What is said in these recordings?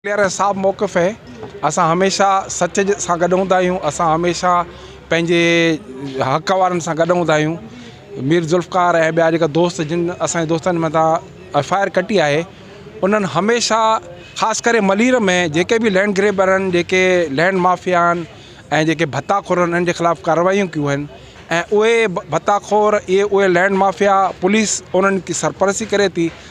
پيارا صاحب موقف هي اسان هميشه سچ سان گڏ هوندا آهيون اسان هميشه پنهنجي حق وارن سان گڏ هوندا آهيون مير ذوالفقار ۽ ٻيا جيڪا دوست جن اسانجي دوستن مٿان ايف آء آر ڪٽي آهي انهن هميشه خاص ڪري ملير ۾ جيڪي به لينڊ گريبر آهن جيڪي لينڊ مافيا آهن ۽ جيڪي ڀتا خور آهن انهن جي خلاف ڪارروايون ڪيون آهن ۽ اهي ڀتا خور اهي اهي لينڊ مافيا پوليس انهن جي سرپرستي ڪري ٿي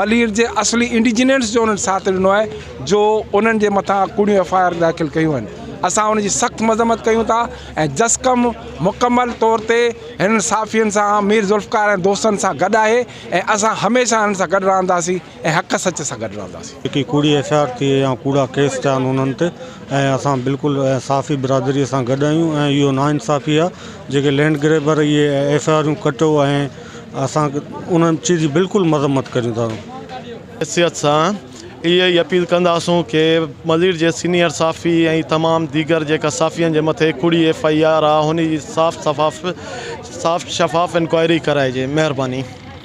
ملير جي اصلي انڊيجنينس جو انهن ساٿ ڏنو آهي جو انهن جي مٿان ڪوڙيون ايف آء آر داخل ڪيون آهن اسان ان جي سخت مذمت ڪيون ٿا ۽ جسقم مڪمل طور تي هنن صحافين سان مير ذوالفقار ۽ دوستن سان گڏ آهي ۽ اسان هميشه هنن سان گڏ رهنداسين ۽ حق سچ سان گڏ رهنداسين. جيڪي ڪوڙي ايف آء آر ٿئي يا ڪوڙا ڪيس ٿيا آهن انهن تي ۽ اسان بلڪل صحافي برادري سان گڏ آهيون ۽ اهو ناانصافي آهي جيڪي لينڊ گريبر اهي ايف آء آرون ڪٽو ۽ اسان ان چيز جي بلڪل مذمت ڪريون ٿا. حيثيت سان اهي ئي اپيل ڪنداسون ڪي ملير جي سينئر صحافي ۽ تمام ديگر جيڪا صحافين جي مٿي ڪوڙي ايف آئي آر آ هن جي صاف شفاف انڪوائري ڪرائجي مهرباني.